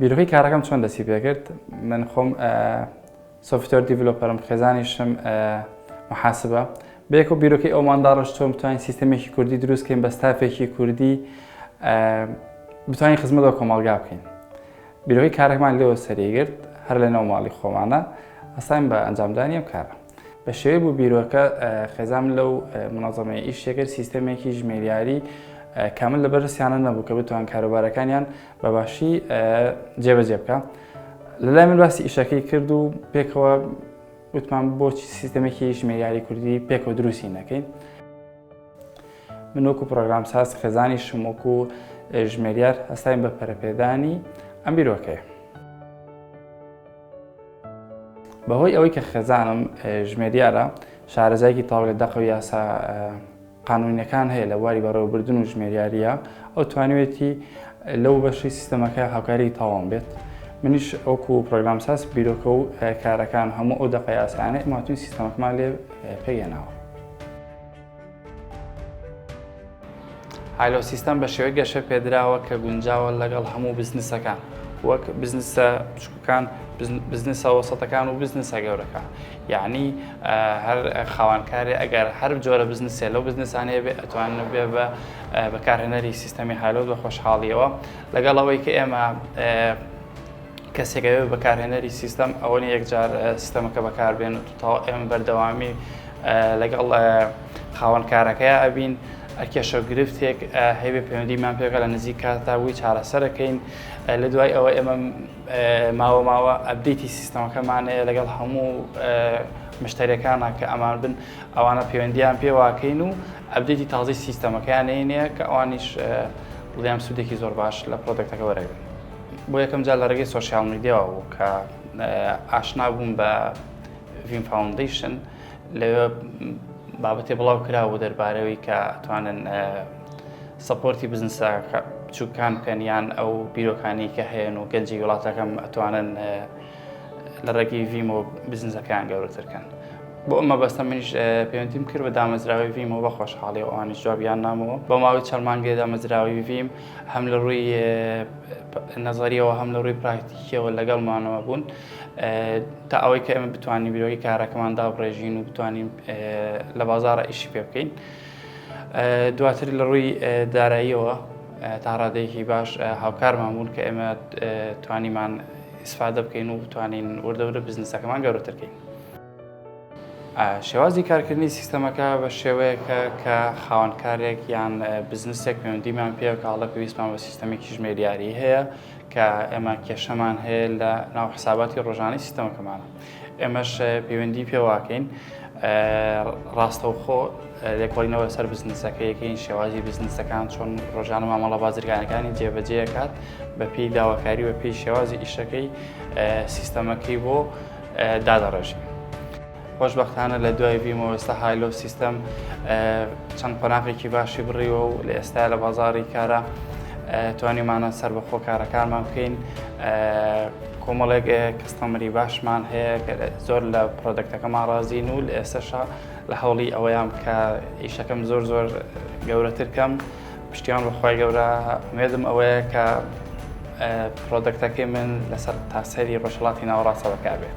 بیرۆکەی کارەکەم چۆن دەستی پێکرد من خۆم سۆفتۆر دیڤلۆپەرم خێزانیشم محاسبە بێک و بیرۆکەی ئەومان داڕش چۆن بتوانین سیستەمێکی کوردی دروستکەین بە ستافێکی کوردی بتوانین خزمەتەوە کۆمەڵگا بکەین بیرۆی کارەکمان لێوە سەریگرت هەر لە ناوماڵی خۆمانە ئەساین بە ئەنجامدانی ئەم کارە بە شێوەی بوو بیرۆکە خێزان لەو مناظەمەیە ئیشێکرد سیستەمێکی ژمێریاری کامل لە بەرسیانە نەبوو کە بتوان کاروبارەکانیان بە باشی جێبەجێ بکە لە لای من باسی ئیشەکەی کرد و پێکەوە وتمان بۆچی سیستەمێکی ژمێریاری کوردی پێکەوە دروستی نەکەین من وەکو پرۆگرام ساز خێزانی شمۆک و ژمێریار هەستاین بە پەرپێدانی ئەم بیرۆکەیە بەهۆی ئەوەی کە خێزانم ژمێریارە شارەزایکی تاو لە دەق و یاسا قانونیەکان هەیە لە بواری بەڕێوەبردن و ژمێریاریە ئەو توانیوێتی لەو بەشی سیستەمەکە هاوکاری تاوان بێت منیش ئەوکو پرۆگرامساز بیرۆکە و کارەکان هەموو ئەو دەقی ئاسانە ئماتون سیستەمەکمان لێ پێگەناوە هالۆ سیستەم بە شێوەی گەشە پێدراوە کە گونجاوە لەگەڵ هەموو بزنسەکان وەک بزنسە کان، بزنسە وەسەتەکان و بزنسە گەورەکان. یەعنی هەر خاوەنکارێ ئەگەر هەر جۆرە بزنسێ لەو بزنسانەیە بێ ئەتوانن بێ بە بەکارهێنەری سیستەمی هالۆ بە خۆشحاڵیەوە. لەگەڵ ئەوەی کە ئێمە کەسێک ئەوێ بە بەکارهێنەری سیستەم ئەوە نیە یەکجار سیستەمەکە بەکاربێنن و تەواو ئێمە بەردەوامی لەگەڵ خاوەنکارەکەی ئەبین. کێشە و گرفتێک هەیبێ پەیوەندیمان پێ بکا لە نزیک کاتدا بۆی چارەسەرەکەین. لە دوای ئەوە ئێمە ماوە ماوە ئەبدیتی سیستەمەکەمان هەیە لەگەڵ هەموو مشتەرەکانە کە ئەمان بن ئەوانە پەیوەندیان پێواکەین و ئەبدیتی تازی سیستەمەکەیان نینەیە کە ئەوانیش بڵیان سوودێکی زۆر باش لە پرۆدەکتەکە وەرەگرن بۆ یەکەم جار لە ڕێگەی سوۆسیال میدیاوە بوو کە ئاشنا بووم بە ڤیم فاونندیشن لەوێ بابەتێ بڵاو کراوە دەربارەوەی کە توانن سپۆرتی بزنسە بچووکان بکەن یان ئەو بیرۆکانی کە هەیەن و گەنجی وڵاتەکەم ئەتوانن لە ڕێگەی ڤیم و بزنسەکەیان گەورەترکەن بۆ ئەمە بەستە منیش پەیوەندیم کرد بە دامەزراوی ڤیم و بە خۆشحاڵی ئەوانیش جوابیان نامەوە بە ماوەی چەمانگەی دامەزراوی ڤیم هەم لە ڕووی نەزەریەوە هەم لە ڕووی پراکتیکیەوە لەگەڵمانەوە بوون تا ئەوەی کە ئێمە بتوانین بیرۆی کارەکەمان دابڕێژین و بتوانین لە بازارە ئیشی پێ بکەین دواتر لە ڕووی داراییەوە تا ڕادەیەکی باش هاوکارمان بوون کە ئێمە توانیمان ئیسفادە بکەین و بتوانین وردەورە بزنسەکەمان گەورەترکەین شێوازی کارکردنی سیستەمەکە بە شێوەیەکە کە خاوەنکارێک یان بزنسێک پەیوەندیمان پێ کاڵە پێویستمان بە سیستەمێکی ژمێریاری هەیە کە ئێمە کێشەمان هەیە لە ناو حساباتی ڕۆژانەی سیستەمەکەمانە ئێمەش پەیوەندی پێواکەین ڕاستەوخۆ لێکۆڵینەوە لەسەر بزنسەکە یەکەین شێوازی بزنسەکان چۆن ڕۆژانە مامەڵە بازرگانەکانی جێبەجێکات بە پێی داواکاری بە پێی شێوازی ئیشەکەی سیستەمەکەی بۆ دادەڕێژین. خۆشبەختانە لە دوای ڤیمۆ ئێستا هایلۆ سیستەم چەند قۆناغێکی باشی بڕیوە و لە ئێستا لە بازاری کارە توانیمانە سەر بەخۆ کارەکانمان بکەین کۆمەڵێک کەستەمەری باشمان هەیە زۆر لە پرۆدەکتەکەمان ڕازین و لە ئێستاشا لە هەوڵی ئەوەیان کە ئیشەکەم زۆر زۆر گەورەتر کەم پشتیان بەخوای گەورە مێدم ئەوەیە کە پرۆدەکتەکەی من لەسەر تاسەری ڕۆژهڵاتی ناوەڕاستەوە کابێت.